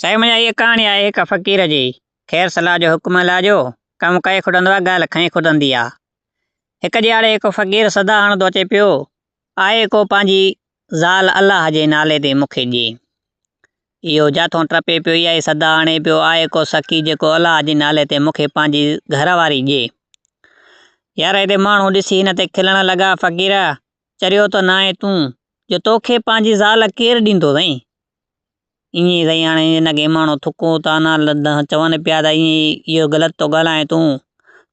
سائين منهنجا هيء ڪهاڻي آهي هڪ فقير جي، خير صلاح جو حڪم الله جو، ڪم ڪئي کٽندو آ ڳالهه کئي کٽندي آ. هڪ ڏيهاڙي هڪ فقير صدا هڻندو اچي پيو، آء ڪو پنهنجي زال الله جي نالي تي مون کي ڏي. اهو جاٿون ٽپي پيو اها ئي صدا هڻي پيو، آء ڪو سخي جيڪو الله جي نالي تي مون کي پنهنجي گهر واري ڏي. يار هتي ماڻهو ڏسي هن تي کلڻ لڳا، فقير! چريو ته ناهين تون، جو توکي پنهنجي زال ڪير ڏيندو سائين؟ ايئن سائين هاڻي هن کي ماڻهو ٿڪو طعنا چون پيا ته ايئن اهو غلط ٿو ڳالهائين تون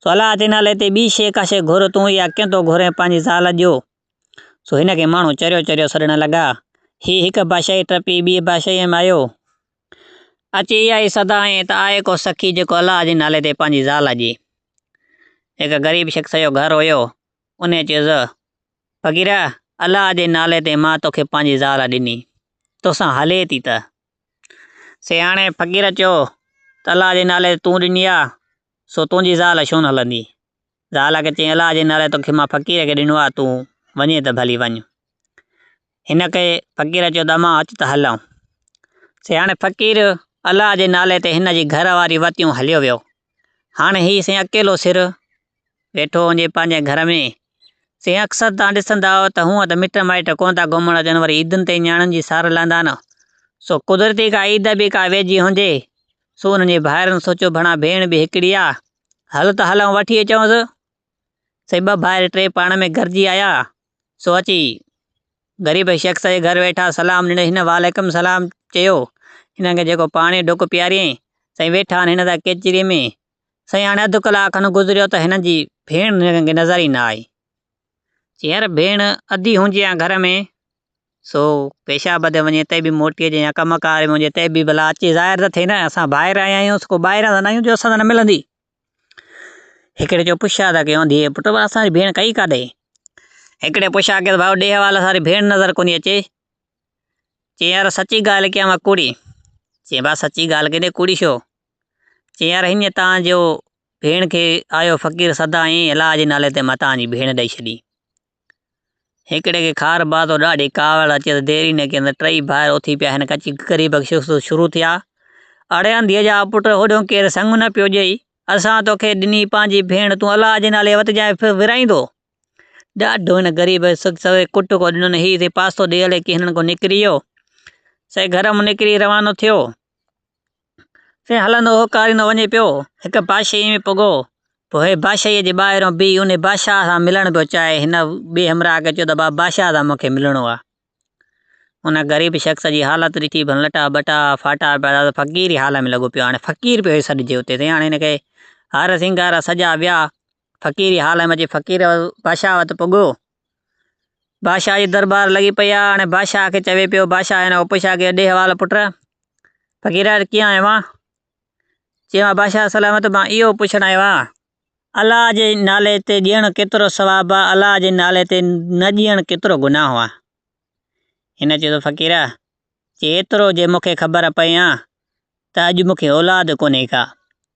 سو الا اچي نالي تي ٻي شيء ڪا شيء گهر تون يا ڪيئن ٿو گهرين پنهنجي زال جو سو هن کي ماڻهو چريو چريو سڏڻ لڳا هي هڪ بادشاهي ٽپي ٻي بادشاهيء ۾ آيو اچي اها ئي صدا هنئين ته آء ڪو سخي جيڪو الا جي نالي تي پنهنجي زال جي هڪ غريب شخص جو گهر هيو انهيء چيس فقيره! الله جي نالي تي مان توکي پنهنجي زال ڏني، توسان هلي ٿي ته؟ سياڻي فقير چيو ته الله جي نالي تي تون ڏني آ، سو تنهنجي زال ڇونه هلندي؟ زال کي چيائين الله جي نالي تي توکي مان فقير کي ڏنو آ، تون وڃين ته ڀلي وڃ. هن کي فقير چيو ته امان اچ ته هلئون. سي هاڻي فقير الله جي نالي تي هن جي گهر واري وتيون هليو ويو. هاڻي هي سين اڪيلو سر ويٺو هجي پنهنجي گهر ۾. سين اڪثر توهان ڏسندا آهيو ته هونئن ته مٽ مائٽ ڪونه ٿا گهمڻ اچن وري عيدن تي نياڻين جي سار لهندا آهن. سو قدرتي ڪا عيد به ڪا ويجهي هجي. سو انهن جي ڀائرن سوچيو ڀڻا ڀيڻ به هڪڙي آ. هل ته هلئون وٺي اچئونس. سي ٻه ڀائر ٽي پاڻ ۾ گڏجي آيا. سو اچي غريب شخص جي گهر ويٺا، سلام ڏني، هن وعليڪم السلام چيو، هنن کي جيڪو پاڻي جو ڍڪ پياريائين، سائين ويٺا آهن هن سان ڪچهري ۾، سائين هاڻي اڌ ڪلاڪ کن گذريو ته هنن جي ڀيڻ هنن کي نظر ئي نه آئي، چيائين يار ڀيڻ اڌي هجي ها گهر ۾، سو پيشاب تي وڃي تي به موٽي اچي يا ڪم ڪار ۾ هجي تي به ڀلا اچي ظاهر ته ٿئي نه، اسان ڀائر آيا آهيون، سو ڪو ٻاهران ته نه آهيون جو اسان سان نه ملندي. هڪڙي چيو پڇا ٿا ڪيون ڌيء پٽ پر اسان جي ڀيڻ ڪئي ڪاڏي؟ هڪڙي پڇا ڪيس ڀائو ڏيهه حوالي اسان جي ڀيڻ نظر ڪونهي اچي. چيائين يار سچي ڳالهه ڪيان وا ڪوڙي؟ چيائين ڀاء سچي ڳالهه ڪيندي ڪوڙي ڇو؟ چيائين يار هينئن تان جو ڀيڻ کي آيو فقير سدا ائين الاهه جي نالي تي متان جي ڀيڻ ڏئي ڇڏي. هڪڙي کي خار باز ۽ ڏاڍي ڪاوڙ اچي ته ديريني کي ته ٽئي ڀائر اٿي پيا هن ڪچي غريب کي شخص شروع ٿيا. اڙي انڌيء جا پٽ هوڏيون ڪير سڱ نه پيو ڄئي. اسان توکي ڏني پنهنجي ڀيڻ تون الله جي نالي وتجانء ڦر ورائيندو. ڏاڍو هن غريب شخص کي ڪٽ ڪو ڏنن هي سي پاسو ڏئي هلي ڪي هنن ڪو نڪري ويو. سي گهر مان نڪري روانو ٿيو. سين هلندو هو ڪاريندو وڃي پيو. هڪ باشيء ۾ پڳو. پوء باشيء جي ٻاهريون بيهي انهي بادشاهه سان ملڻ پيو چاهي. هن ٻئي همراهه کي چيو ته بابا بادشاهه سان مون کي ملڻو آهي. ان غريب شخص جي حالت ڏٺي ڀن لٽا ٻٽا ڦاٽا پيا ته فقير جي حال ۾ لڳو پيو هاڻي فقير پيو سڏجي اتي سين هاڻي هن کي هار سينگار سجا ويا. فقيري حالم جي فقير بادشاهه وٽ پڳو. بادشاهه جي دربار لڳي پئي آ هاڻي بادشاهه کي چوي پيو بادشاهه هن اوپشا کي ڏي حوال پٽ فقير ڪيئن آيو آ چيو آ بادشاهه سلامت مان اهو پڇڻ آيو آ الله جي نالي تي ڏيڻ ڪيترو ثواب آ الله جي نالي تي نه ڏيڻ ڪيترو گناهه آ هن چيو فقير چي ايترو جي مونکي خبر پئي آ ته اڄ مونکي اولاد ڪونهي ڪا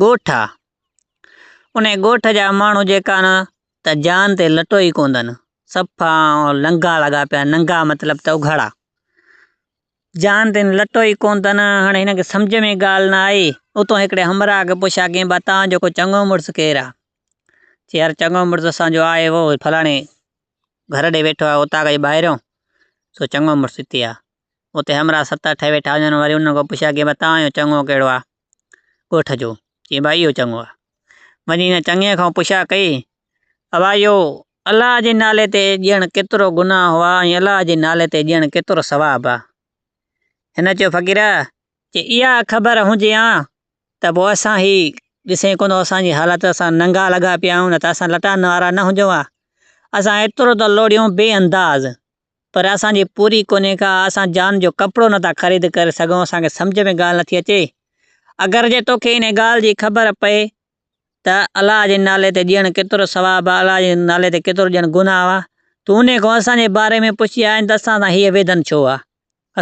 ڳوٺ آ. انهي ڳوٺ جا ماڻهو جيڪا نه ته جان تي لٽو ئي ڪونٿن. صفا ننگا لڳا پيا ننگا مطلب ته اگهاڙا. جان تي لٽو ئي ڪونٿن. هاڻي هن کي سمجهه ۾ ڳالهه نه آئي. اتو هڪڙي همراهه کي پڇيا ڪين ڀا تان جو ڪو چڱو مڙس ڪير آ؟ چي يار چڱو مڙس اسان جو آهي اهو فلاڻي گهر ڏي ويٺو آ اوطاق جي ٻاهريون سو چڱو مڙس هتي آ. اتي همراهه ست اٺ ويٺا هجن وري انهن کان پڇيان ڪي ڀا توهان جو چڱو ڪهڙو آ ڳوٺ جو؟ چيائين ڀا اهو چڱو آ. وڃي هن چڱي کان پڇا ڪئي ابا اهو الله جي نالي تي ڄڻ ڪيترو گناهه آ ۽ الله جي نالي تي ڄڻ ڪيترو ثواب آ. هن چيو فقيرا جي اها خبر هجي ها ته پوء اسان هي ڏسين ڪونه اسان جي حالت اسان ننگا لڳا پيا آهيون نه ته اسان لٽان وارا نه هجون ها. اسان ايترو ته لوڙيون بي انداز پر اسان جي پوري ڪونهي ڪا اسان جان جو ڪپڙو نه ٿا خريد ڪري سگهون اسان کي سمجهه ۾ ڳالهه نٿي اچي اگر جي توکي انهي ڳالهه جي خبر پئي ته الله جي نالي تي ڏيڻ ڪيترو ثواب آ الله جي نالي تي ڪيترو ڏيڻ گناهه آ تون انهي کان اسان جي باري ۾ پڇي آ ته اسان سان هيء ويڌن ڇو آ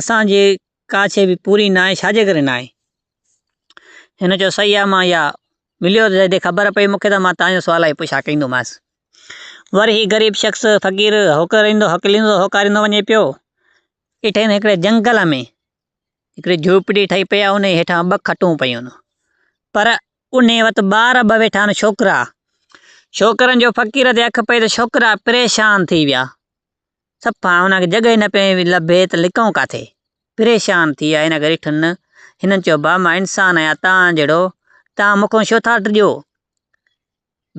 اسان جي ڪا شي به پوري ناهي ڇا جي ڪري ناهي هن چيو صحيح آ مان يا مليو جڏهن خبر پئي مون کي ته مان تانجو سوال آهي پڇا ڪندومانس. ور هي غريب شخص فقير هوڪريندو هڪليندو هوڪاريندو وڃي پيو. اٺين هڪڙي جنگل ۾ هڪڙي جهوپڙي ٺهي پئي آ انهي هيٺان ٻه کٽون پيون. پر انهي وٽ ٻار ٻه ويٺا آهن ڇوڪرا. ڇوڪرن جو فقير تي اک پئي ته ڇوڪرا پريشان ٿي ويا. صفا هن کي جڳهه ئي نه پئي لڀي ته لڪئون ڪاٿي؟ پريشان ٿي آئي هن گهڙي ٺن. هنن چيو، ڀاء مان انسان آهيان توهان جهڙو، توهان مون کان ڇو ٿا ڊڄو؟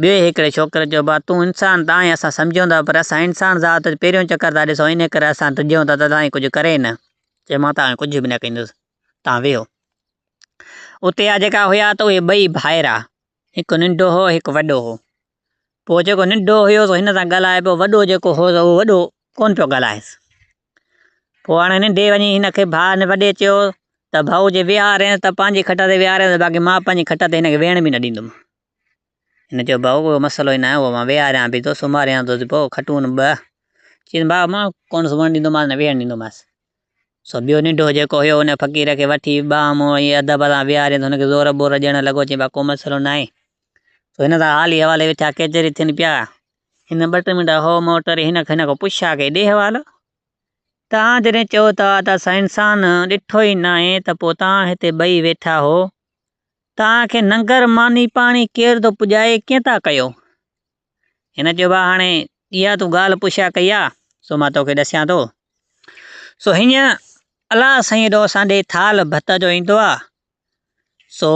ٻئي هڪڙي ڇوڪري چيو، ڀاء تون انسان ته آهين اسان سمجهون ٿا پر اسان انسان ذات جو پهريون چڪر ٿا ڏسون انهيء ڪري اسان ڊڄون ٿا ته توهان ڪجهه ڪري نه. چيو، مان توهان کي ڪجهه به نه ڪندس توهان ويهو. اتي آ جيڪا هيا ته اهي ٻئي ڀائرا. هڪ ننڍو هو هڪ وڏو هو. پوء جيڪو ننڍو هيو سو هن سان ڳالهائي پيو، وڏو جيڪو هو سو وڏو ڪونه پيو ڳالهائيس. پوء هاڻي ننڍي وڃي هن کي ڀاء هن وڏي چيو ته ڀاء جي ويهارينس ته پنهنجي کٽ تي ويهارينس باقي مان پنهنجي کٽ تي هن کي ويهڻ به نه ڏيندم. هن چيو ڀاء ڪو مسئلو ئي ناهي، اهو مان ويهاريان به ٿو، سمهاريان به ٿو، پوء کٽون ٻه. چيس ڀاء مان ڪونه سمهڻ ڏيندومانس نه ويهڻ ڏيندومانس. سو ٻيو ننڍو جيڪو هيو ان فقير کي وٺي ٻانهن مون ائين ادب سان ويهارين ته هن کي زور ٻور ڏيڻ لڳو چيائين ڀا ڪو مسئلو ناهي. سو هن سان حالي حوالي ويٺا ڪيچري ٿين پيا. هن ٻه ٽي منٽ هو مون ٽري هن هن کان پڇا ڪئي ڏي حوالو. توهان جڏهن چئو ٿا ته اسان انسان ڏٺو ئي ناهي ته پوء توهان هتي ٻئي ويٺا هو توهان کي ننگر ماني پاڻي ڪير ٿو پڄائي ڪئين ٿا ڪيو. هن چيو، ڀاء هاڻي اها تون ڳالهه پڇا ڪئي آ، سو مان توکي ڏسيان ٿو. سو هينئن الله سائين هيڏو اسان ڏي ٿالهه ڀت جو ايندو آ، سو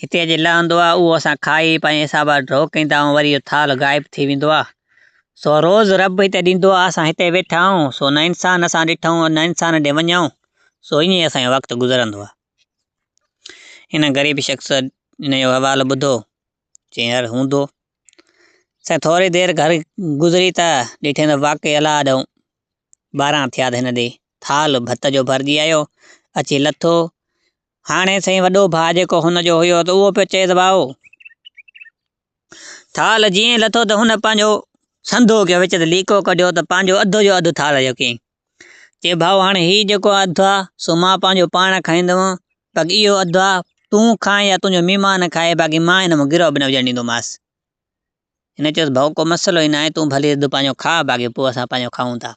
هتي اچي لهندو آ، اهو اسان کائي پنهنجي حساب سان ڍوڪ ڪندا آهيون، وري اهو ٿالهه غائب ٿي ويندو آ. سو روز رب هتي ڏيندو آ، اسان هتي ويٺا آهيون، سو نه انسان اسان ڏٺائون، نه انسان ڏي وڃائون، سو ائين اسان جو وقت گذرندو آ. هن غريب شخص هن جو حوالو ٻڌو، چيائين هل هوندو. سائين ٿوري دير گهر گذري ته ڏٺين ته واقعي الاهه ڏهون ٻارهن ٿيا ته هن ڏي ٿالهه ڀت جو ڀرجي آيو، اچي لٿو. هاڻي سائين وڏو ڀاء جيڪو هن جو هيو ته اهو پيو چئي ته ڀائو! ٿالهه جيئن لٿو ته هن پنهنجو سنڌو ڪيو وچ ته ليڪو ڪڍيو ته پنهنجو اڌ جو اڌ ٿالهه جو ڪيائين. چي ڀائو هاڻي هي جيڪو اڌ آ سو مان پنهنجو پاڻ کائيندوم باقي اهو اڌ آ تون کانء يا تنهنجو مهمان کائي باقي مان هن مان گروء به نه وجهڻ ڏيندومانس. هن چيس ڀائو ڪو مسئلو ئي ناهي تون ڀلي اڌ پنهنجو کاء باقي پوء اسان پنهنجو کائون ٿا.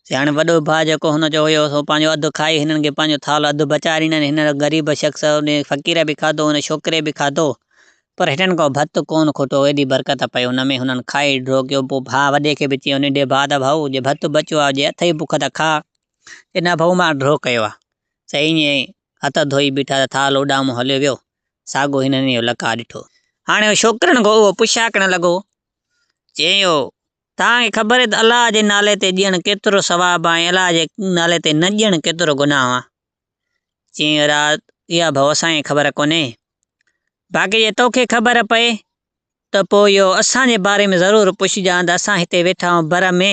سي هاڻي وڏو ڀاء جيڪو هن جو هيو سو پنهنجو اڌ کائي هنن کي پنهنجو ٿالهو اڌ بچائي ڏنائين هن غريب شخص ان فقير به کاڌو ان ڇوڪري به کاڌو پر هنن ڪو ڀت ڪونه کوٽو، ايڏي برڪت پئي ان ۾، هنن کائي ڍوڪيو، پوء ڀاء وڏي کي به چيو، ننڍي ڀاء ته ڀائو، جي ڀت بچيو آهي، جي اٿئي بک ته کاء، جي نه ڀائو مان ڍو ڪيو آهي. سي ائين ئي هٿ ڌوئي بيٺا ته ٿال اڏامون هليو ويو، ساڳو هنن اهو لقاء ڏٺو. هاڻي هو ڇوڪرن کان اهو پڇاڪڻ لڳو، چيو، توهان کي خبر آهي ته الله جي نالي تي ڏيڻ ڪيترو ثواب آهي ۽ الله جي نالي تي نه ڏيڻ ڪيترو گناهه آهي؟ چيائين رات اها به اسان کي خبر ڪونهي، باقي جي توکي خبر پئي ته پوء اهو اسان جي باري ۾ ضرور پڇجان ته اسان هتي ويٺا آهيون بر ۾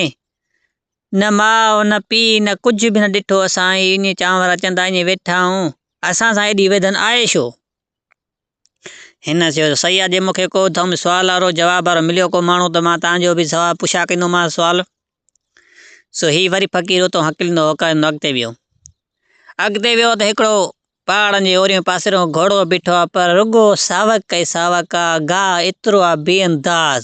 نه ماء نه پيء نه ڪجهه به نه ڏٺو اسان ائين چانور اچندا ائين ويٺا آهيون اسان سان ايڏي ويڌن آهي ڇو هن چيو سيا جي مونکي ڪو ٿم سوال وارو جواب وارو مليو ڪو ماڻهو ته مان تنهنجو به سوال پڇا ڪندومانس سوال سو هي وري فقير اتان هڪلندو هوڪاريندو اڳتي ويو اڳتي ويو ته هڪڙو پهاڙن جي اوريون پاسيرو گهوڙو بيٺو آ پر رڳو ساوڪ ۽ ساوڪ آ گاهه ايترو آ بي انداز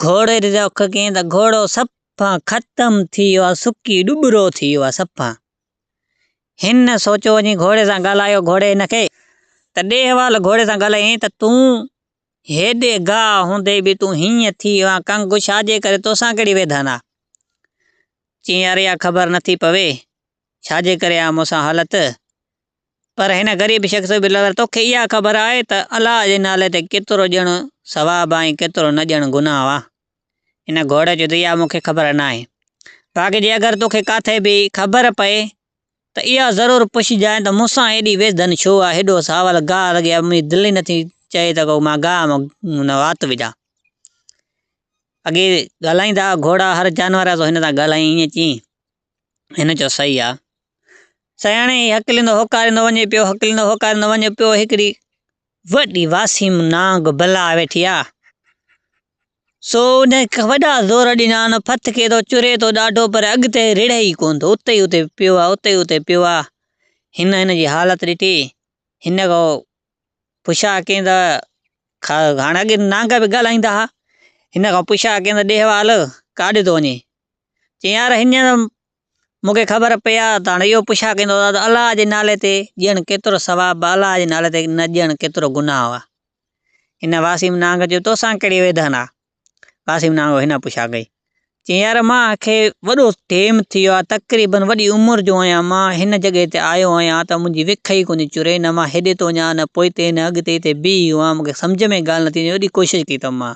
گهوڙي ري رک ڪين ته گهوڙو صفا ختم ٿي ويو آ سڪي ڏٻرو ٿي ويو آ صفا هن سوچيو وڃي گهوڙي سان ڳالهايو گهوڙي هن کي ته ڏي حوال گهوڙي سان ڳالهايائين ته تون هيڏي گاهه هوندي به تون هيئن ٿي ويو آهين ڪنگ ڇاجي ڪري توسان ڪهڙي ويڌن آ چيائين يار اها خبر نٿي پوي ڇاجي ڪري آ مون سان حالت پر هن غريب شخص به لڳل توکي اها خبر آهي ته الله جي نالي تي ڪيترو ڄڻ ثواب آهي ڪيترو نه ڄڻ گناهه آهي هن گهوڙي چيو ته اها مونکي خبر ناهي باقي جي اگر توکي ڪاٿي به خبر پئي ته اها ضرور پڇجانء ته مون سان ايڏي ويس ڌن ڇو آهي؟ هيڏو ساول گاهه رڳي آهي، منهنجي دل ئي نٿي چئي ته ڪو مان گاهه ۾ وات وجهان. اڳي ڳالهائيندا هئا گهوڙا هر جانور سو هن سان ڳالهائين ائين چيائين. هن چيو صحيح آهي. سياڻي هي هڪليندو هوڪاريندو وڃي پيو، هڪليندو هوڪاريندو وڃي پيو، هڪڙي وڏي واسيم نانگ بلا ويٺي آهي. سو ان کي وڏا زور ڏنا ان ڦٿ کي ته چري ٿو ڏاڍو پر اڳتي رڙهي ئي ڪونه ٿو اتي ئي اتي پيو آهي اتي ئي اتي پيو آهي هن هن جي حالت ڏٺي هن کان پڇا ڪيائين ته هاڻي اڳي نانگ به ڳالهائيندا هئا هن کان پڇا ڪيائين ته ڏي حوال ڪاڏي ٿو وڃين چيائين يار هينئر مون کي خبر پئي ها ته هاڻ اهو پڇا ڪيندو ته آيا الله جي نالي تي ڏيڻ ڪيترو ثواب آ الله جي نالي تي نه ڏيڻ ڪيترو گناهه آ. هن واسيم نانگ چيو توسان ڪهڙي ويڌن آ؟ واسيم نانگ هن پڇا ڪئي. چيائين يار مان کي وڏو ٽيم ٿي ويو آ تقريبن وڏي عمر جو آهيان مان هن جڳهه تي آيو آهيان ته منهنجي وک ئي ڪونهي چري نه مان هيڏي ٿو وڃان نه پوئتي نه اڳتي هتي بيهي هئم مون کي سمجهه ۾ ڳالهه نٿي اچي ايڏي ڪوشش ڪئي اٿم مان.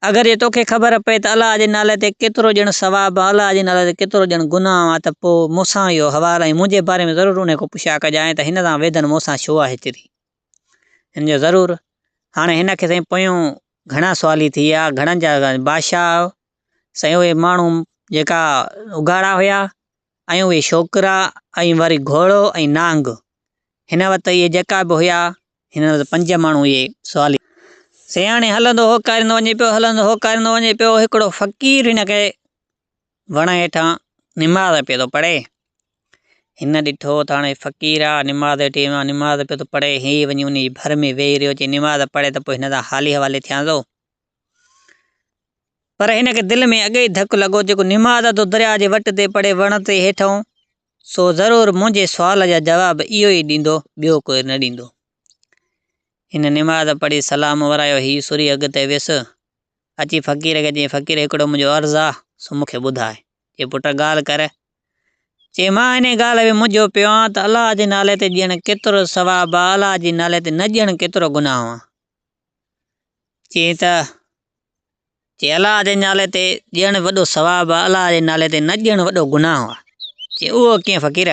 اگر جي توکي خبر پئي ته الله جي نالي تي ڪيترو ڄڻ ثواب ۽ الله جي نالي تي ڪيترو ڄڻ گناهه آهن ته پوء مون سان اهو حوال ۽ منهنجي باري ۾ ضرور انهي کان پڇا ڪجانء ته هن سان ويڌن مون سان ڇو آهي تيري هن جو ضرور هاڻي هن کي سائين پويون گهڻا سوالي ٿي ويا گهڻن جا بادشاهه سائين اهي ماڻهو جيڪا اگهاڙا هيا ۽ اهي ڇوڪرا ۽ وري گهوڙو ۽ نانگ هن وت اهي جيڪا به هيا هن وت پنج ماڻهو اهي سوالي سياڻي هلندو هو ڪاريندو وڃي پيو هلندو هو ڪاريندو وڃي پيو هڪڙو فقير هن کي وڻ هيٺان نماز پيو ٿو پڙهي هن ڏٺو ته هاڻي فقير آ نماز هيٺي ويو نماز پيو ٿو پڙهي هي وڃي ان جي ڀر ۾ ويهي رهيو چي نماز پڙهي ته پوء هن سان حالي حوالي ٿيان ٿو پر هن کي دل ۾ اڳي ئي ڌڪ لڳو جيڪو نماز ادو درياء جي وٽ تي پڙهي وڻ تي هيٺئون سو ضرور منهنجي سوال جا جواب اهو ئي ڏيندو ٻيو ڪو نه ڏيندو هن نماز پڙهي سلام ورايو هي سوري اڳتي ويس اچي فقير کي چيائين فقير هڪڙو منهنجو عرض آ سو مون کي ٻڌاء چي پٽ ڳالهه ڪر چي مان هن ڳالهه ۾ منجهيو پيو آهيان ته الله جي نالي تي ڄڻ ڪيترو ثواب آ الله جي نالي تي نه ڄڻ ڪيترو گناهه آ چيائين ته جي الله جي نالي تي ڏيڻ وڏو ثواب آهي الله جي نالي تي نه ڏيڻ وڏو گناهه آهي چيائين اهو ڪيئن فقير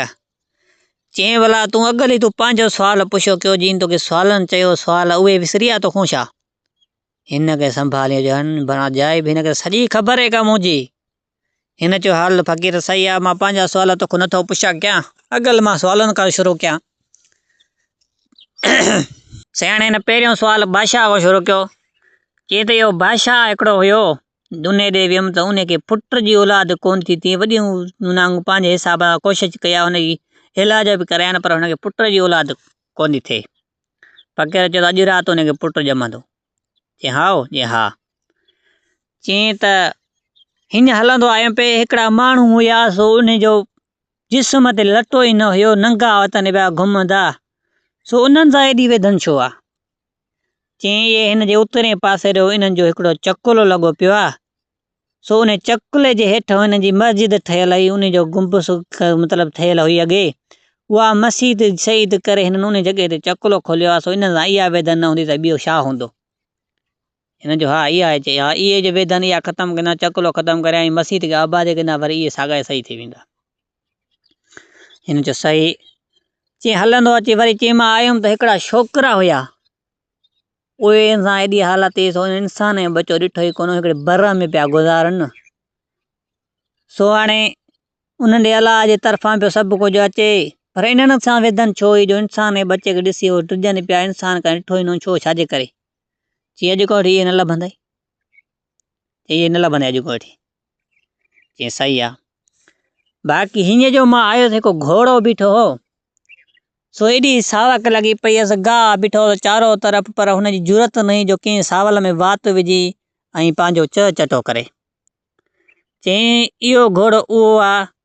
چيائين ڀلا تون اڳل ئي تون پنهنجو سوال پڇيو ڪيو جيئن توکي سوالن چيو سوال اهي وسري ويا توکون ڇا هن کي سنڀاليو ڄڻ بڻا جاء به هن کي سڄي خبر هي ڪا منهنجي هن چيو، حال فقير صحيح آ، مان پنهنجا سوال توکون نه ٿو پڇان ڪيان، اڳل مان سوالن کان شروع ڪيان. سياڻي هن پهريون سوال بادشاهه کان شروع ڪيو. چي ته يو بادشاهه هڪڙو هيو، دونهي ڏي ويم ته ان کي پٽ جي اولاد ڪونه ٿي تي وڏيون نانگون پنهنجي حساب سان ڪوشش ڪئي آ، ان جي علاج به ڪرايان پر ان کي پٽ جي اولاد ڪونه ٿي ٿئي. فقير چيو ته اڄ رات ان کي پٽ ڄمندو. چيائين هائو، چيائين ها. چيائين ته هيئن هلندو آيم پئي، هڪڙا ماڻهو هيا سو انهن جو جسم تي لٽو ئي نه هيو، ننگا وتن پيا گهمندا، سو انهن سان ايڏي ويڌن ڇو آ؟ چيائين اهي هن جي اترئين پاسي جو انهن جو هڪڙو چڪلو لڳو پيو آ. سو انھيء چڪلي جي ھيٺ ھن جي مسجد ٺھيل ھئي، انھيء جو گنبذ مطلب ٺھيل ھئي اڳي، اھا مسيت شھيد ڪري ھنن انھيء جڳھي تي چڪلو کوليو آھي، سو انھن سان اھا ويڌن نھ ھوندي تھ ٻيو ڇا ھوندو؟ ھنن چيو، ھا اھا ھي، ھا اھي ھي جو ويڌن اھا ختم ڪندا، چڪلو ختم ڪريا ۽ مسيت کي آباد ڪندا، وري اھي ساڳيا جي ساڳيا ٿي ويندا. ھنن چيو، صحيح. چيئن ھلندو اچي وري چيمانء آيم تھ ھڪڙا ڇوڪرا ھيا، اهي انسان ايڏي حالت تي سو انسان ۽ ٻچو ڏٺو ئي ڪونه هڪڙي بره ۾ پيا گذارن نه سو هاڻي انهن ڏي الله جي طرفان پيو سڀ ڪجهه اچي پر انهن سان ويڌن ڇو اهي جو انسان ۽ ٻچي کي ڏسي اهي ڊڄن پيا انسان ڪنهن ڏٺو ئي نه ڇو ڇاجي ڪري چي اڄ کوٽ اهي نه لڀندئي چي اهي نه لڀندئي اڄ کوٽ چيائين صحيح آ، باقي هينئر جو مان آيس هڪ گهوڙو بيٺو هو، سو ايڏي ساوڪ لڳي پئي هيس، گاهه بيٺو هو چارو طرف پر هن جي جرئت نه هئي جو ڪنهن ساول ۾ وات وجهي ۽ پنهنجو چهه چٽو ڪري. چيائين اهو گهوڙو اهو آ،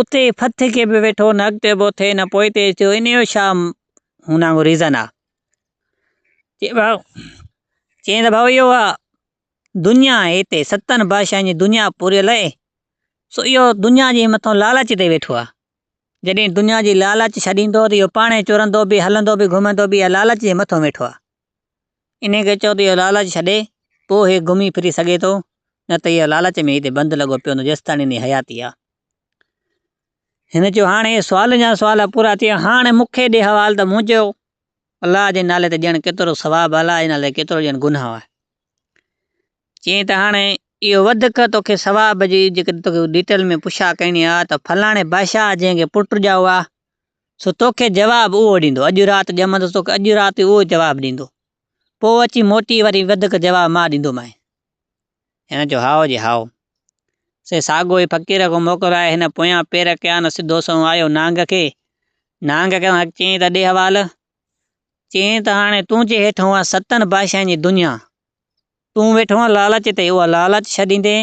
اتي ڦٿ کي به ويٺو نه اڳتي اٿئي نه پوئتي اچي ٿو ان جو ڇا هن وانگو ريزن آ چي ڀائو چي ته ڀائو اهو آ دنيا آهي هتي ستن بادشاهن جي دنيا پوري لئي سو اهو دنيا جي مٿان لالچ تي ويٺو آ جڏهن دنيا جي لالچ ڇڏيندو ته اهو پاڻ چورندو به هلندو به گهمندو به لالچ جي مٿان ويٺو آ انهيء کي چئو ته اهو لالچ ڇڏي، پوء هي گهمي ڦري سگهي ٿو، نه ته اهو لالچ ۾ ئي هتي بند لڳو پيو هوندو جيستائين هن جي حياتي آهي. هن چيو، هاڻ اهي سوالن جا سوال پورا ٿيا، هاڻ مون کي ڏي حوال ته مون چيو، الله جي نالي تي ڏيڻ ڪيترو ثواب آهي، الله جي نالي تي ڪيترو ڏيڻ گناهه آهي. چيائين ته هاڻ اهو وڌڪ توکي ثواب جي جيڪڏهن توکي ڊيٽيل ۾ پڇا ڪرڻي آهي ته فلاڻي بادشاهه جنهن کي پٽ ڄائو آهي، سو توکي جواب اهو ڏيندو. اڄ رات ڄمندس توکي اڄ رات ئي اهو جواب ڏيندو. پوء اچي موٽي وري وڌيڪ جواب مان ڏيندومانء. هن چيو، هائو جي هائو. سي ساڳو ئي فقير کان موڪل آيو. هن پويان پير ڪيا نه سڌو سنئون آيو نانگ کي. نانگ کي اڳ چيائين ته ڏي حوال. چيائين ته هاڻي تون جي هيٺ هئين ستن بادشاهن جي دنيا. تون ويٺو هئين لالچ تي اها لالچ ڇڏيندين.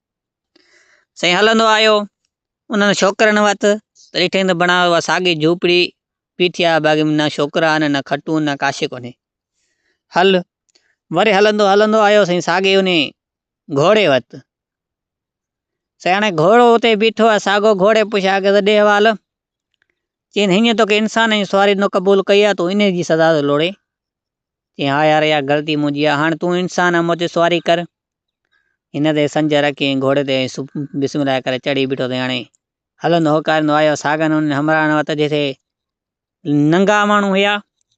سائين هلندو آيو، انهن ڇوڪرن وٽ ته ڏٺائين ته بڻايو اها ساڳي جهوپڙي بيٺي آهي، باقي نه ڇوڪرا آهن، نه کٽون، نه ڪا شيء ڪونهي. هل، وري هلندو هلندو آيو سائين ساڳي انهي گهوڙي وٽ. سائين هاڻي گهوڙو اتي بيٺو آهي، ساڳو گهوڙي پڇيان ڪيو ته ڏي حوال، چيائين، هينئن توکي انسان جي سواري نه قبول ڪئي آ، تون انهيء جي سزا ٿو لوڙين؟ چيائين، ها يار، اها غلطي منهنجي آ، هاڻ تون انسان آهين، مون تي سواري ڪر. هن تي سنجهه رکي ۽ گهوڙي تي بسم الله ڪري چڙهي بيٺو ته هاڻي هلندو هوڪاريندو آيو ساڳن انهن همراهن وٽ جتي ننگا ماڻهو هيا.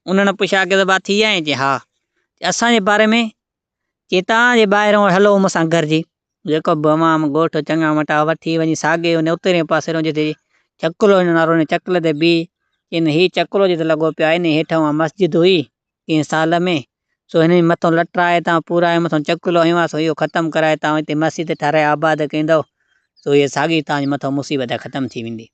انهن پڇيا ڪي ته ڀا ٿي آئين؟ چيائين، ها. چيائين، اسان جي باري ۾ چيتان جي ٻاهرئون هلو مون سان گهرجي. جيڪب به امام ڳوٺ چڱا مٽا وٺي وڃي ساڳئي ان اترئين پاسي رئون جتي چڪلو هن نارو هن چڪلي تي بيهي چين هي چڪلو جتي لڳو پيو آهي انهي هيٺ اها مسجد هئي ڪنهن سال ۾ سو هن جي مٿئون لٽا هتان پورا ۽ مٿئون چڪلو هنيو آهي سو اهو ختم ڪرائي تان هتي مسجد ٺهرائي آباد ڪندئو سو هيء ساڳئي تان جي مٿئون مصيبت ختم ٿي ويندي.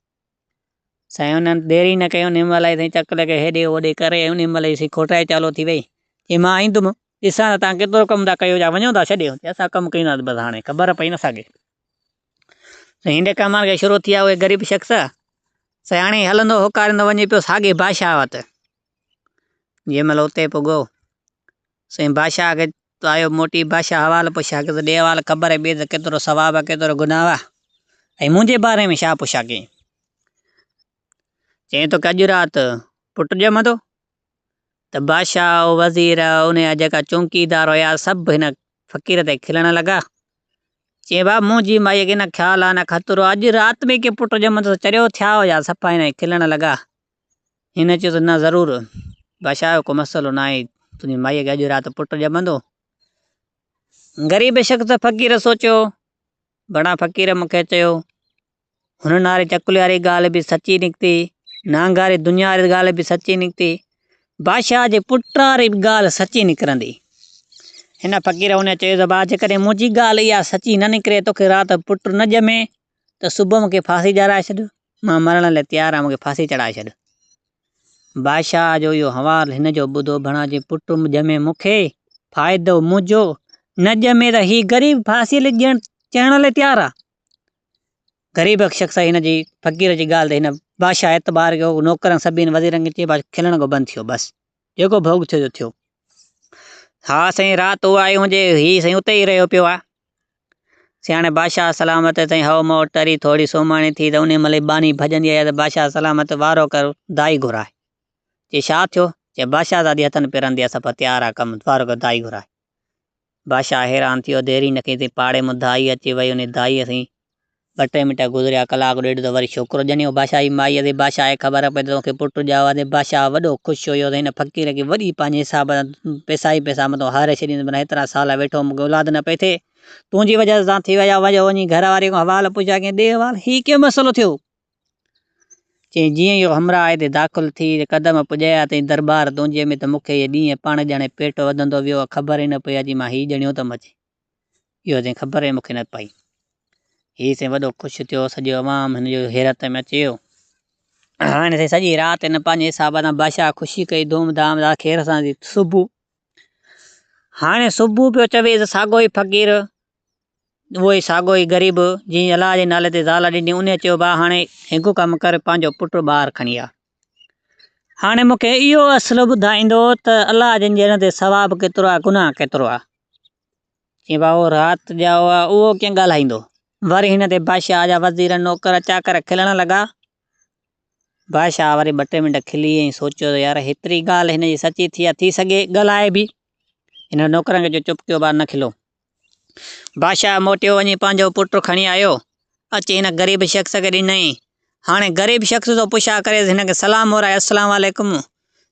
سائين انهن دير ئي نه ڪئي، انهيء مهل ئي سائين چڪ لڳي هيڏي هوڏي ڪري ۽ انهيء مهل ئي سائين کوٽائي چالو ٿي ويئي. چيائين مان ايندم، ڏسان ٿا توهان ڪيترو ڪم ٿا ڪيو يا وڃو ٿا ڇڏي؟ چيائين اسان ڪم ڪينداسين بس هاڻي خبر پئي نه ساڳي. سائين هينڊي ڪم هاڻي شروع ٿي ويا اهي غريب شخص سائين هاڻي هلندو هوڪاريندو وڃي پيو ساڳي بادشاهه وٽ. جنهن مهل اتي پڳو. سائين بادشاهه کي تو آيو موٽي، بادشاهه حوال پڇا ڪي تو ڏي حوال قبر جي ٻيد تي ڪيترو ثواب آ ڪيترو گناهه آ ۽ منهنجي باري ۾ ڇا پڇا ڪين؟ چيائين توکي اڄ رات پٽ ڄمندو ته بادشاهه وزير ان جا جيڪا چونڪيدار هيا سڀ هن فقير تي کلڻ لڳا چيائين بابا منهنجي مائيء کي نه خيال آ نه خطرو آ اڄ رات ۾ ڪي پٽ ڄمندو ته چريو ٿيا هجا صفا هن کلڻ لڳا هن چيو ته نه ضرور بادشاهه اهو ڪو مسئلو نه آهي تنهنجي مائيء کي اڄ رات پٽ ڄمندو. غريب شخص فقير سوچيو گهڻا فقير مون کي چيو هن ناري چڪلي واري ڳالهه به سچي نڪتي نانگاري دنيا واري ڳالهه به سچي نڪتي بادشاهه جي پٽ واري به ڳالهه سچي نڪرندي هن فقير ان چيو ته بادشاهه جيڪڏهن منهنجي ڳالهه اها سچي نه نڪري توکي رات پٽ نه ڄمي ته صبح مون کي ڦاسي ڄارائي ڇڏ مان مرڻ لاء تيار آهيان، مون کي ڦاسي چڙهائي ڇڏ. بادشاهه جو اهو حوال هن جو ٻڌو ڀڻا جي پٽ ڄمي مون کي فائدو منهنجو، نه ڄمي ته هي غريب ڦاسي لي ڄڻ چڙهڻ لاء تيار آ. غريب شخص هن جي فقير جي ڳالهه تي هن بادشاهه اعتبار ڪيو، نوڪرن سڀني وزيرن کي چيو بادشاهه کلڻ کان بند ٿيو بس. جيڪو ڀوڳ ٿيو جو ٿيو. ها سائين رات اها آئي هونجي هي سائين اتي ئي رهيو پيو آ. سياڻي بادشاهه سلامت سائين هئو مئو ٽري ٿورڙي سومهڻي ٿي ته انهي مهل ئي ٻانهي ڀڄندي آئي آ ته بادشاهه سلامت وارو ڪر دائي گهرائي. چي شا ٿيو؟ چي بادشاهزادي هٿن پيرن دي آ سڀ تيار آ ڪم وارو ڪر دائي گهرائي. بادشاهه حيران ٿي ويو. ديري نه ڪئي تي پاڙي مان دائي اچي وئي. انهيء دائيء سين ٻه ٽي منٽ گذريا. ڪلاڪ ڏيڍ ته وري ڇوڪرو ڄنيو. بادشاهه جي مائيء تي بادشاهه کي خبر پئي ته تو کي پٽ ڄائو آهي. بادشاهه وڏو خوش هيو ته هن فقير کي وڏي پنهنجي حساب سان پئسا ئي پئسا مٿان هاري ڇڏيندس. منا هيترا سال ويٺو هوم مون کي اولاد نه پئي ٿئي. تنهنجي وجهه سان ٿي ويا. وڃ وڃي گهر واري کان حوال پڇ. آکينس ڏي حوال هي ڪيئن مسئلو ٿيو. چيائين، جيئن اهو همراهه هتي داخل ٿي قدم پڄايا تئين درٻار دونجي ۾، ته مون کي اهي ڏينهن پاڻ ڄڻي پيٽ وڌندو ويو ۽ خبر ئي نه پئي اچي مان هي ڄڻيو ته مچي ويو تنهن خبر ئي مون کي نه پئي. هي سائين وڏو خوش ٿيو، سڄو عوام هن جي حيرت ۾ اچي ويو. هن سائين سڄي رات هن پنهنجي حساب سان بادشاهه کي خوشي ڪئي، ڌوم ڌام سان خير سان ٿي صبح هاڻي صبح پيو چوي ته ساڳيو ئي فقير اهوئي ساڳيو هي غريب، جنهن الله جي نالي تي زال ڏني، انهيء چيو، ڀاء هاڻي هڪ ڪم ڪر، پنهنجو پٽ ٻاهر کڻي آ. هاڻي مون کي اهو اصل ٻڌائيندو ته الله جن جي در تي ثواب ڪيترو آ، گناهه ڪيترو آ. چيائين، ڀاء اهو رات ڄائو آ، اهو ڪيئن ڳالهائيندو؟ وري هن تي بادشاهه جا وزير، نوڪر، چاڪر کلڻ لڳا. بادشاهه وري ٻه ٽي منٽ کلي ۽ سوچيو ته يار هيتري ڳالهه هن جي سچي ٿي آ، ٿي سگهي ڳالهائي به. هن نوڪرن کي چيو، چپ ڪيو ڀاء نه کلو. بادشاهه موٽيو وڃي پنهنجو پٽ کڻي آيو. اچي هن غريب شخص کي ڏنائين. هاڻي غريب شخص ٿو پڇا ڪريس هن کي سلام مورائي السلام عليڪم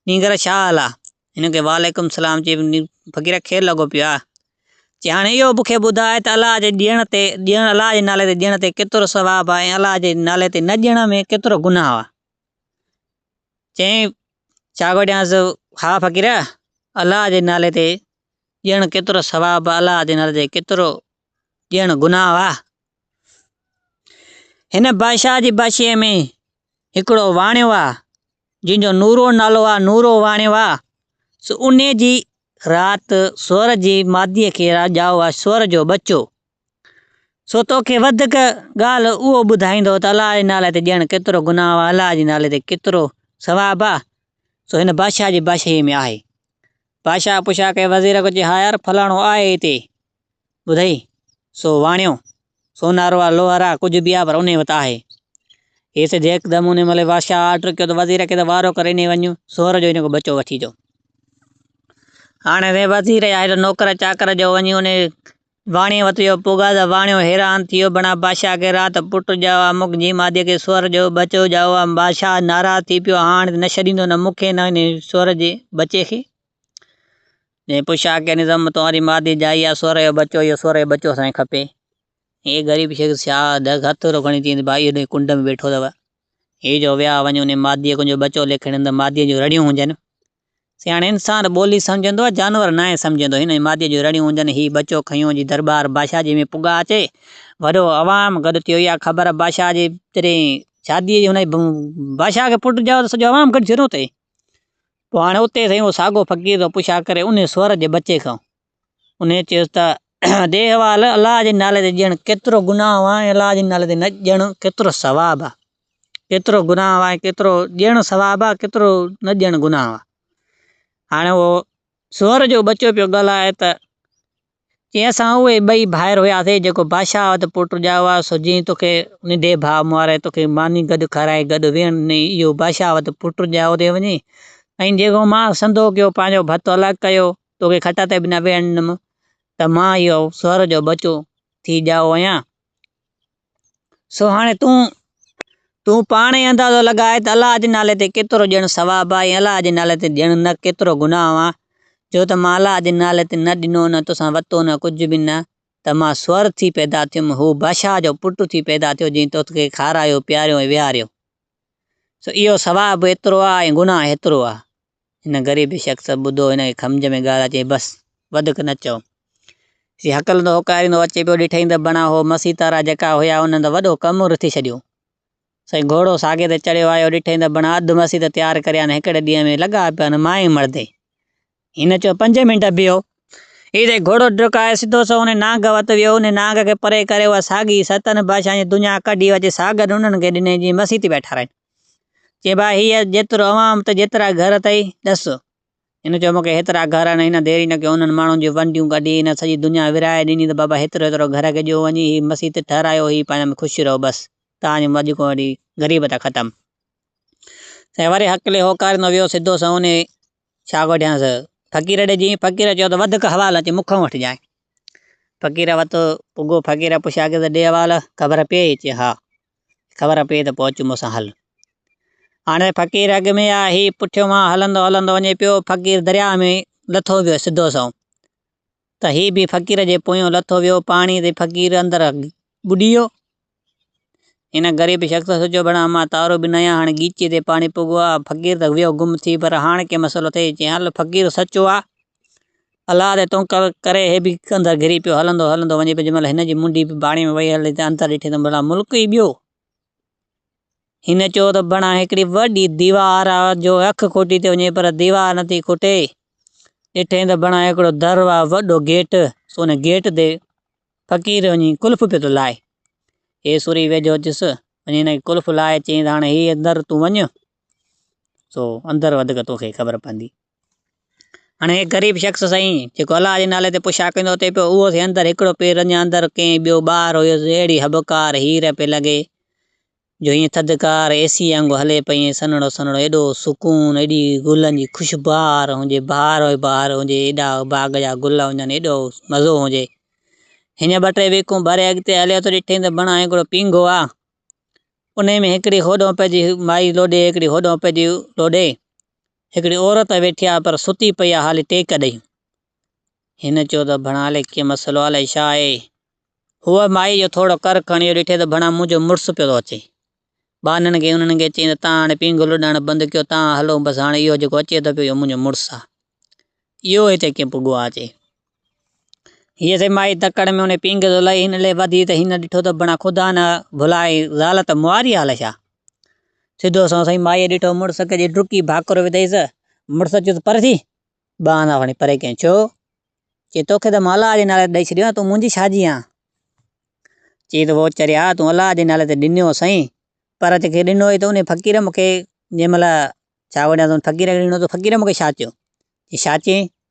نينگر ڇا حال آ؟ هن کي وعليڪم السلام چئي فقير کير لڳو پيو آ. چي هاڻي اهو مون کي ٻڌاء ته الله جي ڏيڻ تي ڏيڻ الله جي نالي تي ڏيڻ تي ڪيترو ثواب آ ۽ الله جي نالي تي نه ڏيڻ ۾ ڪيترو گناهه آ. چئين ڇا ڪو ڏيانس ها فقير الله جي نالي تي ڄڻ ڪيترو ثواب الله جي نظر ڪيترو ڄڻ گناهه آهي. هن بادشاهه جي بادشاهي ۾ هڪڙو واڻيو آهي جنهن جو نورو نالو آهي نورو واڻيو آهي سو انهي جي رات سور جي مادي کي راڄائو آهي سور جو ٻچو سو تو کي وڌڪ ڳالهه اهو ٻڌائيندو ته الله جي نالي تي ڏيڻ ڪيترو گناهه آهي، الله جي نالي تي ڪيترو ثواب آهي، سو هن بادشاهه جي بادشاهيء ۾ آهي. بادشاهه پڇا ڪئي، وزير کي چيو، ها يار، فلاڻو آهي هتي. ٻڌئي، سو واڻيو، سونارو آ، لوهر آ، ڪجهه به آ، پر انهي وٽ آهي. هي سڌ هڪدم انهي مهل بادشاهه آرڊر ڪيو ته وزير کي ته وارو ڪري انهي وڃ، سؤر جو هن کان ٻچو وٺي اچو. هاڻي وزير يا هيڏو نوڪر چاڪر جو وڃي انهي واڻيي وت جو پوگاز واڻيو حيران ٿيو بڻا بادشاهه کي رات پٽ ڄائوا مک جي مادي کي سؤر جو ٻچو ڄائوا بادشاهه ناراض ٿي پيو هاڻ نه ڇڏيندو نه مون کي نه هن سؤر جي ٻچي کي جنهن پوء شاهه کي نظم توهان جي مادي ڄائي آ سؤر جو ٻچو اهو سؤر جو ٻچو اسان کي کپي هي غريب شخص شاهه ڏس هٿ ٿورو کڻي چيائين ته ڀائي هن ڪنڊ ۾ ويٺو اٿو هي جو ويا وڃ ان مادي کي جو ٻچو ليکي ڏن ته مادي جون رڙيون هجن سياڻي انسان ٻولي سمجهندو ۽ جانور ناهي سمجهندو. هن جي ماديء جون رڙيون هونجن، هي ٻچو کنيون جي درٻار بادشاهه جي ۾ پڳا اچي. وڏو عوام گڏ ٿيو اها خبر بادشاهه جي جڏهن شاديء جي هن جي بادشاهه کي پٽ ڄائو ته سڄو عوام گڏجي روئي. پوء هاڻي اتي سائين اهو ساڳو فقير ٿو پڇا ڪري انهي سؤر جي ٻچي کان. انهيء چيس ته، ڏي حوالو، الله جي نالي تي ڄڻ ڪيترو گناهه آهي ۽ الله جي نالي تي نه ڄڻ ڪيترو ثواب آهي. ڪيترو گناهه آهي ۽ ڪيترو ڄڻ ثواب آهي، ڪيترو نه ڄڻ گناهه آهي. هاڻي اهو سوئر جو ٻچو پيو ڳالهائي ته، چيائين اسان اهي ٻئي ڀائر هياسين جيڪو بادشاهه وٽ پٽ ڄائو آهي، سو جيئن توکي ننڍي ڀاء ماري توکي ماني گڏ کارائي گڏ ويهڻ ڏنئي، اهو بادشاهه وٽ پٽ ڄائو تي وڃي ۽ جيڪو مان سنڌو ڪيو، پنهنجو ڀت الڳ ڪيو، توکي کٽ تي به نه ويهڻدم ته مان اهو سؤر جو ٻچو ٿي ڄائو آهيان. سو هاڻي تون تون پاڻ ئي اندازو لڳاء ته الله جي نالي تي ڪيترو ڄڻ ثواب آهي ۽ الله جي نالي تي ڄڻ نه ڪيترو گناهه آهي، جو ته مان الله جي نالي تي نه ڏنو نه توسان وتو نه ڪجهه به نه ته مان سؤر ٿي پيدا ٿيم، هو بادشاهه جو پٽ ٿي پيدا ٿيو جنهن توکي کارايو، پياريو ۽ ويهاريو. سو اهو ثواب به ايترو آ ۽ گناهه هيترو آ. هن غريب شخص ٻڌو هن کي کمجهه ۾ ڳالهه اچي بس وڌڪ نه چئو. سي هڪلندو هوڪاريندو اچي پيو ڏٺئين ته بڻا هو مسي تارا جيڪا هيا انهن ته وڏو ڪم رٿي ڇڏيو. سائين گهوڙو ساڳي تي چڙهيو آيو ڏٺئين ته بڻا اڌ مسي ته تيار ڪريان هڪڙي ڏينهن ۾ لڳا پيا آهن مائي مڙدي. هن چيو، پنج منٽ بيهو. ايئن چئي گهوڙو ڊڪائي سڌو سنئون انهيء نانگ وٽ ويو. انهيء نانگ کي پري ڪري اها ساڳي ستن بادشاهن جي دنيا ڪڍي اچي ساگر ننڍن کي ڏني جيئن مسيت پيا ٺاراهين. چيائين، ڀاء هيء جيترو عوام اٿئي، جيترا گهر اٿئي، ڏس. هن چيو، مون کي هيترا گهر آهن. هن دير ئي نه ڪئي، انهن ماڻهن جون ونڊيون ڪڍي هن سڄي دنيا ورهائي ڏني ته بابا هيترو هيترو گهر کي ڏيو وڃي، هي مسيت ٺهرايو، هي پنهنجا ۾ خوش رهو بس. توهان جي اڄ کان وٺي غريب ته ختم. سائين وري هڪلي هوڪاريندو ويو سڌو سنئون انهيء ڇا وڍيانس؟ فقير ڏي جئين، فقير چيو ته وڌڪ حوال اچي مون کان وٺ جانء. فقير وت پڳو، فقير پڇيا ڪيو ته ڏي حوال، خبر پيئي؟ چي ها، خبر پيئي ته پوء اچ مون سان هل. هاڻي فقير اڳ ۾ آ، هي پٺيو مان هلندو هلندو وڃي پيو، فقير درياء ۾ لٿو ويو سڌو سنئون. ته هي به فقير جي پويان لٿو ويو پاڻي تي فقير اندر ٻڏي ويو. هن غريب شخص سوچيو ڀيڻا امان تارو به نه آهي هاڻي ڳيچي تي پاڻي پوڳو آ فقير ته ويو گم ٿي پر هاڻ ڪي مسئلو ٿئي چيائين هل فقير سچو آ الله تي تون ڪري هي به اندر گهري پيو هلندو هلندو وڃي پيو جنهن مهل هن جي منڊي به پاڻي ۾ وئي هلي ته اندر ڏٺي ته ڀيڻا ملڪ ئي ٻيو هن چيو ته بڻان هڪڙي وڏي ديوار آ جو اک کوٽي ٿي وڃي پر ديوار نٿي کوٽي. ڏٺئين ته بڻان هڪڙو در آ وڏو گيٽ سو ان گيٽ تي فقير وڃي قلف پيو ٿو لائي. هي سوري ويجهو اچس وڃي هن کي قلف لائي چيائين ته هاڻي هي در تون وڃ سو اندر وڌيڪ توکي خبر پوندي. هن هڪ غريب شخص سائين جيڪو الله جي نالي تي پڇا ڪندو اچي پيو، اهو سي اندر هڪڙو پير اڃا اندر ڪئين ٻيو ٻاهر هيس، اهڙي هٻڪار هير پئي لڳي جو هيئن ٿڌڪار اي سيء وانگو هلي پئي ۽ سنهڙو سنهڙو ايڏو سڪون، ايڏي گلن جي خوشبهار هجي، بهار ئي بهار هجي، ايڏا باغ جا گل هجن، ايڏو مزو هجي. هيئن ٻه ٽي ويڪون ڀري اڳتي هليو ته ڏٺئين ته بڻان هڪڙو پينگهو آ، انهيء ۾ هڪڙي هوڏنهن پئجي مائي لوڏي هڪڙي هوڏنهن پئجي لوڏي. هڪڙي عورت ويٺي آهي پر ستي پئي آهي هالي ٽيڪ ڏئي. هن چيو ته ڀڻا هالي ڪي مسئلو آهي الائي ڇا آهي. هوء مائي جو ٿورو ڪر کڻي اهو ڏٺي ته ڀڻا منهنجو مڙس پيو ٿو اچي. ٻانهن کي انهن کي چيائين ته تان هاڻي پينگهه لڏائڻ بند ڪيو تان هلو بس هاڻي اهو جيڪو اچي ٿو پيو اهو منهنجو مڙس آهي. اهو هتي ڪي پڳو آهي چي. هيء سي مائي تڪڙ ۾ انهي پينگهه ٿو لئي، هن لئي وڌي ته هن ڏٺو ته بڻا خدا نه ڀلائي، زال ته مواري هال ڇا؟ سڌو سنئون سائين مائيء ڏٺو مڙس ڪجي ڊڪي ڀاڪر وڌئيس، مڙس چيس ته پر ٿي، ٻه آنا کڻي پري ڪيائين، ڇو؟ چي توکي ته مان الله جي نالي تي ڏئي ڇڏيو آهي، تون منهنجي ڇاجي آن؟ چي ته ووچريا تون الله جي نالي تي ڏنو سئين، پر جيڪي ڏنو هئي ته انهي فقير مون کي جنهن مهل ڇا وڙيان ته ان فقير کي ڏنو ته فقير مون کي ڇا چيو؟ چي ڇا چيائين؟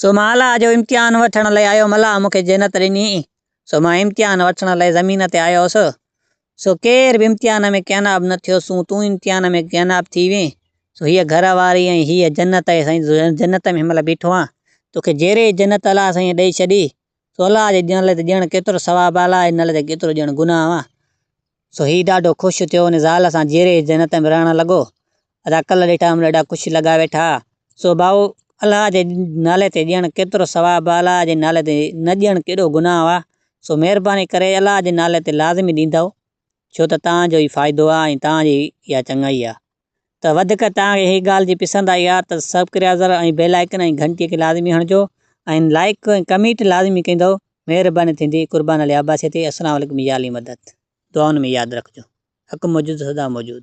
سو مان الله جو امتحان وٺڻ لئي آيو هوم الله مون کي جنت ڏني سو مان امتحان وٺڻ لئي زمين تي آيو هوس سو ڪير به امتحان ۾ ڪيناب نه ٿيو سون تون امتحان ۾ ڪيناب ٿي وين سو هيء گهر واري ۽ هيء جنت آهي سائين جنت ۾ هن مهل بيٺو آهيان توکي جهڙي جنت الله سائين ڏئي ڇڏي سو الله جي ڏيڻ لئه ته ڄڻ ڪيترو ثواب آ الله جي نه لئه ته ڪيترو ڄڻ گناهه آ. سو هي ڏاڍو خوش ٿيو ان زال سان جيري جنت ۾ رهڻ لڳو. ادا ڪل ڏٺا هم ڏاڍا خوش لڳا ويٺا. سو ڀائو الله جي نالي تي ڄڻ ڪيترو ثواب آ الله جي نالي تي نه ڄڻ ڪيڏو گناهه آ. سو مهرباني ڪري الله جي نالي تي لازمي ڏيندؤ ڇو ته توهان جو ئي فائدو آ ۽ توهان جي ئي اها چڱائي آ. ته وڌيڪ توهان کي هي ڳالهه جي پسند آئي ها ته سبڪريازر ۽ بيل آئيڪن ۽ گهنٽي کي لازمي هڻجو ۽ لائيڪ ۽ ڪميٽ لازمي ڪندو مهرباني ٿيندي قربان علي عباسي تي السلام عليڪم يا علي مدد دعائن ۾ ياد رکجو حق موجود سدا موجود.